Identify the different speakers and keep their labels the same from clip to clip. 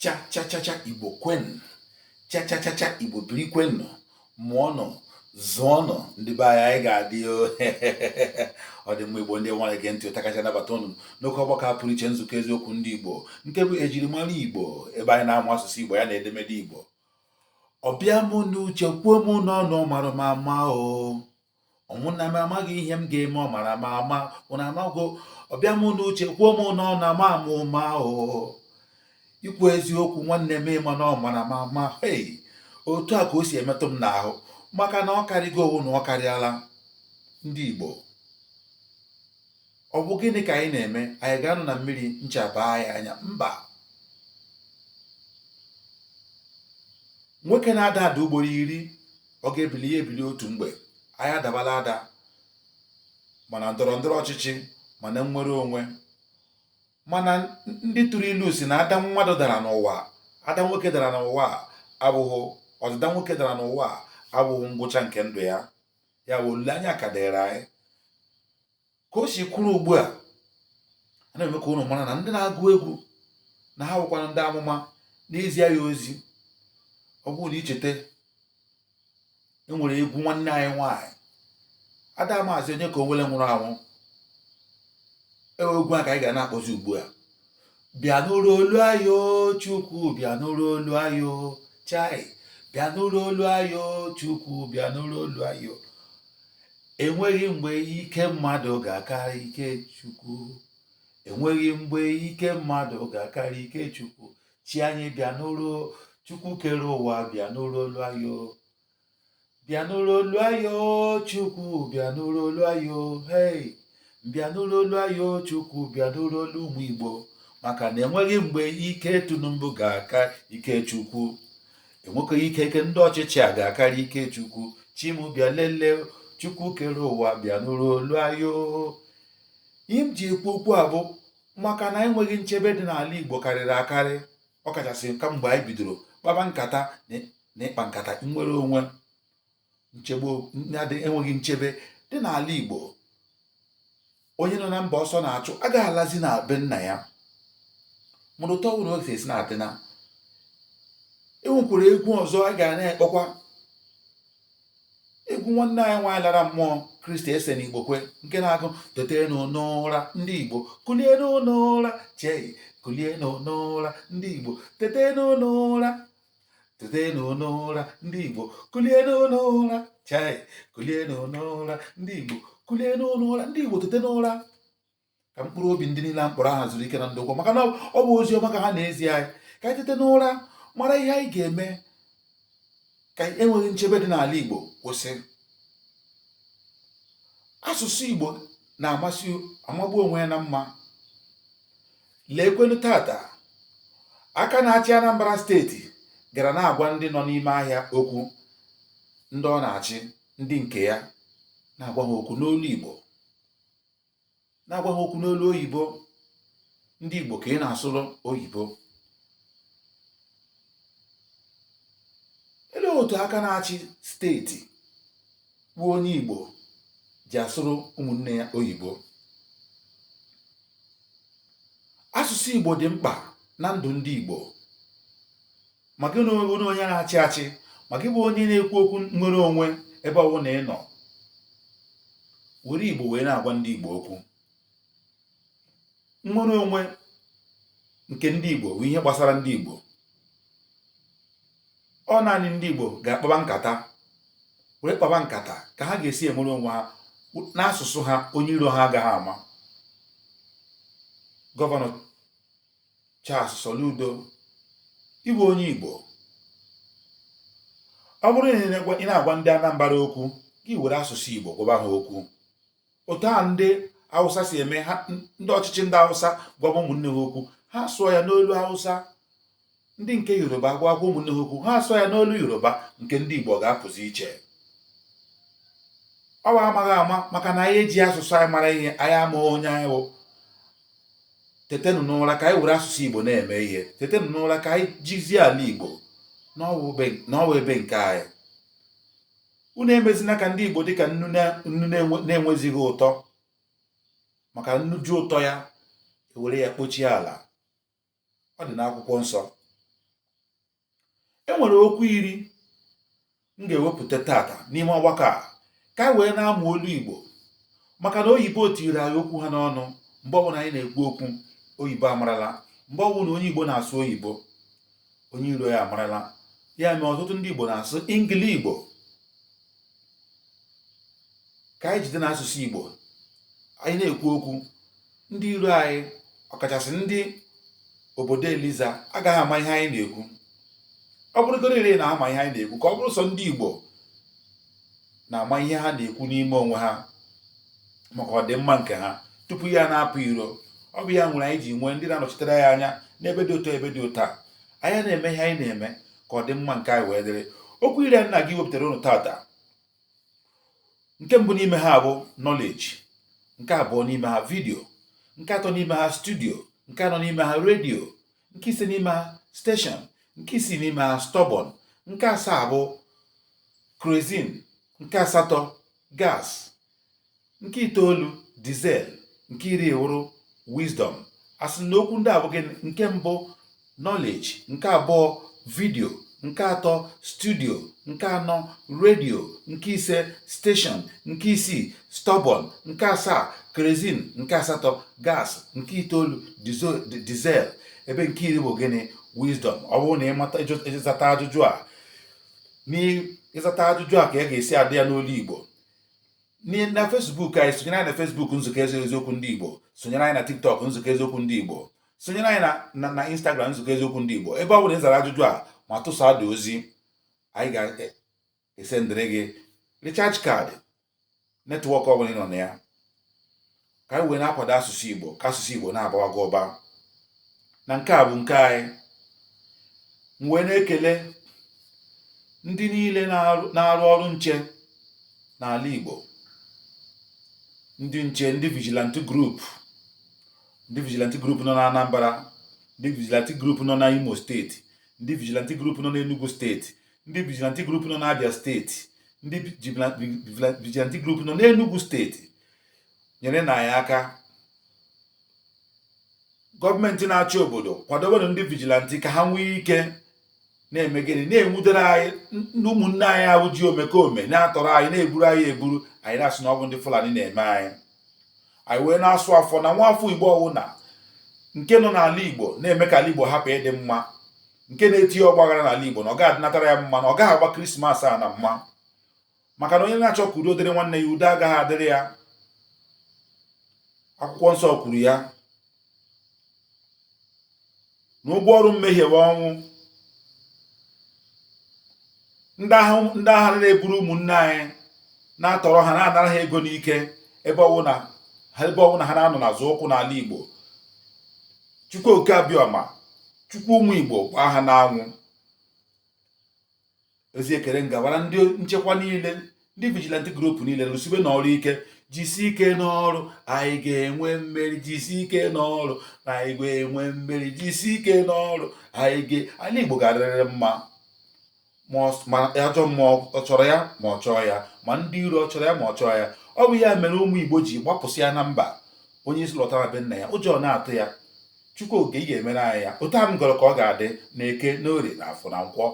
Speaker 1: chachachacha igbo kwenụ chachachacha igbo biri kwenụ mụọnụ zụọnụ ndị be anyị anyị ga-adị ọ dị mma igbo ndị nwe anyị gee ntị ụta kacha nabata ụnụ n'oke ọgbakọ a pụrụ iche nzukọ eziokwu ndị igbo nke bụ ejirimara igbo ebe anyị na-amụ asụsụ igbo ya na edemede igbo ọ bịa mụ n'uche kwuo mụ n'ọnụ ọ mara m ama o ụmụnna m amaghị ihe m ga-eme ọ mara m ama ụna amago ọ bịa m n'uche kwuo m n'ọnụ ama m ụma o ikwu eziokwu nwanne m ị ma na ọ mara m ama hei otu a ka o si emetụ m n'ahụ maka na ọ karịgo ọ wụ na ọ karịala ndị Igbo ọ bụ gịnị ka anyị na-eme anyị ga-anọ na mmiri ncha baa anyị anya mba nwoke na-ada ada ugboro iri ọ ga-ebili ya ebili otu mgbe anyị adabala ada ma na ndọrọ ndọrọ ọchịchị ma na nnwere onwe mana ndị tụrụ ilu si na ada mmadụ dara n'ụwa ada nwoke dara n'ụwa abụghị ọdịda nwoke dara n'ụwa abụghị ngwụcha nke ndụ ya ya bụ olileanya ka dịrị anyị ka o si kwuru ugbu a a na-eme ka unu mara na ndị na-agụ egwu na ha bụkwanụ ndị amụma na-ezi anyị ozi ọ bụrụ na i cheta e nwere egwu nwanne anyị nwaanyị ada maazị onyeka onwenu nwụrụ anwụ ewe egwu a ka anyị ga na-akpọzi ugbu a bịa nụrụ olu anyị o chukwu bịa nụrụ olu anyị o chai bịa nụrụ olu anyị o chukwu bịa nụrụ olu anyị o enweghị mgbe ike mmadụ ga-akarị ike chukwu enweghị mgbe ike mmadụ ga-akarị ike chukwu chi anyị bịa nụrụ chukwu kere ụwa bịa nụrụ olu anyị o bịa nụrụ olu anyị o chukwu bịa nụrụ olu anyị o hei bịa nụrụ olu anyị o chukwu bịa nụrụ olu ụmụ igbo maka na enweghị mgbe ike tinubu ga-aka ike chukwu enweghị ike ndị ọchịchị a ga-akarị ike chukwu chi mụ bịa lelee chukwu kere ụwa bịa nụrụ olu anyị o ihe m ji ekwu okwu a bụ maka na enweghị nchebe dị n'ala igbo karịrị akarị ọ kachasị kamgbe anyị bidoro kpaba nkata na ịkpa nkata nnwere onwe nchebe enweghị nchebe dị n'ala Igbo onye nọ na mba ọsọ na-achụ agaghị alazi na be nna ya mana otu ọbụla o si esi na-adị na e nwekwara egwu ọzọ a ga na-akpọkwa egwu nwanne anyị nwaanyị lara mmụọ christy essien igbokwe nke na-agụ tetenu n'ụra ndị igbo kulienu n'ụra chei kulienu n'ụra ndị igbo tetenu n'ụra tetenu n'ụra ndị igbo kulienu n'ụra chei kulienu n'ụra ndị igbo kulienu n'ụra ndị igbo tete n'ụra ka mkpụrụ obi ndị niile a m kpọrọ aha zuru ike na ndokwa maka na ọ bụ ozi ọma ka ha na-ezi anyị ka anyị tete n'ụra mara ihe anyị ga-eme ka enweghị nchebe dị n'ala Igbo kwụsị asụsụ Igbo na-amasị amagbu onwe ya na mma leekwenu taata aka na-achị Anambra steeti gara na-agwa ndị nọ n'ime ahịa okwu ndị ọ na-achị ndị nke ya na-agwa ha okwu n'olu Igbo na-agwa ha okwu n'olu oyibo ndị igbo ka ị na-asụrụ oyibo elee otu aka na-achị steeti bụ onye igbo ji asụrụ ụmụnne ya oyibo asụsụ igbo dị mkpa na ndụ ndị igbo ma gị na onye onye na-achị achị ma gị bụ onye na-ekwu okwu nnwere onwe ebe ọbụna ị nọ were igbo wee na-agwa ndị igbo okwu nnwere onwe nke ndị igbo bụ ihe gbasara ndị igbo ọ naanị ndị igbo ga-akpaba nkata were kpaba nkata ka ha ga-esi enwere onwe ha n'asụsụ ha onye iro ha agaghị ama gọvanọ Charles Soludo ị bụ onye Igbo ọ bụrụ na ị na-agwa ndị Anambra okwu gị were asụsụ Igbo gwaba ha okwu otu a ndị Hausa si eme ndị ọchịchị ndị Hausa gwaba ụmụnne ha okwu ha sụọ ya n'olu Hausa ndị nke yoruba agwa agwa ụmụnne ha okwu ha asụọ ya n'olu yoruba nke ndị igbo ga-apụzi iche ọ bụ amaghị ama maka na anyị eji asụsụ anyị mara ihe anyị ama onye anyị bụ tetenụ n'ụra ka anyị were asụsụ igbo na-eme ihe tetenụ n'ụra ka anyị jizie ala igbo na ọ wụ ebe nke anyị unu emezina ka ndị igbo dị ka nnu na-enwezighị ụtọ maka nnu ju ụtọ ya e were ya kpochie ala ọ dị n'akwụkwọ nsọ e nwere okwu iri m ga-ewepụta taata n'ime ọgbakọ a ka anyị wee na-amụ olu Igbo maka na oyibo tiiri anyị okwu ha n'ọnụ mgbe ọbụla anyị na-ekwu okwu oyibo amarala mgbe ọbụla onye Igbo na-asụ oyibo onye iro ya amarala ya mere ọtụtụ ndị Igbo na-asụ ingili Igbo ka anyị jide n'asụsụ Igbo anyị na-ekwu okwu ndị iro anyị ọkachasị ndị obodo Eliza agaghị ama ihe anyị na-ekwu ọ bụrụgoro ire na-ama ihe anyị na-ekwu ka ọ bụrụ sọ ndị Igbo na-ama ihe ha na-ekwu n'ime onwe ha maka ọdịmma nke ha tupu ya na-apụ iro ọ bụ ya mere anyị ji nwee ndị na-anọchitere anyị anya n'ebe dị otu a ebe dị otu a anyị na-eme ihe anyị na-eme ka ọ dị mma nke anyị wee dịrị okwu iri a na-aga iwepụtara ụnụ taata nke mbụ n'ime ha bụ knowledge nke abụọ n'ime ha video nke atọ n'ime ha studio nke anọ n'ime ha radio nke ise n'ime ha station nke isii n'ime ha stubborn nke asaa bụ kerosene nke asatọ gas Nke itoolu diesel nke iri wụrụ wisdom a sị na okwu ndị a bụ gịnị nke mbụ knowledge nke abụọ video nke atọ studio nke anọ radio nke ise station nke isii stubborn nke asaa kerosene nke asatọ gas nke itoolu diesel ebe nke iri bụ gịnị wisdom ọ bụrụ na ị mata ị zata ajụjụ a n'ịzata ajụjụ a ka a ga-esi adị ya n'olu igbo na Facebook anyị sonyere anyị na Facebook nzukọ eziokwu ndị Igbo sonyere anyị na TikTok nzukọ eziokwu ndị Igbo sonyere anyị na Instagram nzukọ eziokwu ndị Igbo ebe ọ bụla ị zara ajụjụ a ma tụsa dị ozi anyị ga-esendịrị gị recharge card network ọ bụla ị nọ na ya ka anyị wee na-akwado asụsụ Igbo ka asụsụ Igbo na-abawaga ụba na nke a bụ nke anyị m wee na-ekele ndị niile na-arụ ọrụ nche n'ala Igbo ndị nche ndị vigilante group ndị vigilante group nọ na Anambra ndị vigilante group nọ na Imo steeti ndị vigilante group nọ na Enugu steeti ndị vigilante group nọ na Abia steeti ndị vigilante group nọ n'Enugu steeti nyerenụ anyị aka gọọmenti na-achị obodo kwadobenụ ndị vigilante ka ha nwee ike na-eme gịnị na-enwudere anyị ndị ụmụnne anyị ahụ ji omekome na-atọrọ anyị na-eburu anyị eburu anyị na-asị na ọ bụ ndị Fulani na-eme anyị anyị wee na-asụ ọfọ na nwa afọ Igbo ọwụna nke nọ n'ala Igbo na-eme ka ala Igbo hapụ ịdị mma nke na-etinye ọgbaghara n'ala Igbo na ọ ga-adịnatara ya mma na ọ gaghị agba krismas a na mma maka na onye na-achọ ka udo dịrị nwanne ya udo agaghị adịrị ya akwụkwọ nsọ kwuru ya na ụgwọ ọrụ mmehie bụ ọnwụ ndị ahụ na-eburu ụmụnne anyị na-atọrọ ha na-anara ha ego n'ike ebe ọwụna ha na-anọ na-azọ ụkwụ n'ala Igbo Chukwu Oke Abịama Chukwu ụmụ Igbo gbaa ha n'anwụ ozi ekele m gabara ndị nchekwa niile ndị vigilante group niile rụsibenụ ọrụ ike jisi ike n'ọrụ anyị ga-enwe mmeri jisi ike n'ọrụ na anyị ga-enwe mmeri jisi ike n'ọrụ ala igbo ga-adịrịrị mma ma ajọ mmụọ ọ chọrọ ya ma ọ chọọ ya ma ndị iro ọ chọrọ ya ma ọ chọọ ya ọ bụ ya mere ụmụ igbo ji gbapụsịa na mba onye ị sị lọta be nna ya ụjọ na-atụ ya chukwu oke ị ga-emere anyị ya otu a m gọrọ ka ọ ga-adị na eke na orie na afọ na nkwọ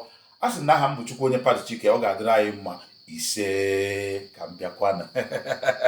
Speaker 1: a sị na aha m bụ chukwu onye pati chike ọ ga-adịrị anyị mma isee ka m bịakwanụ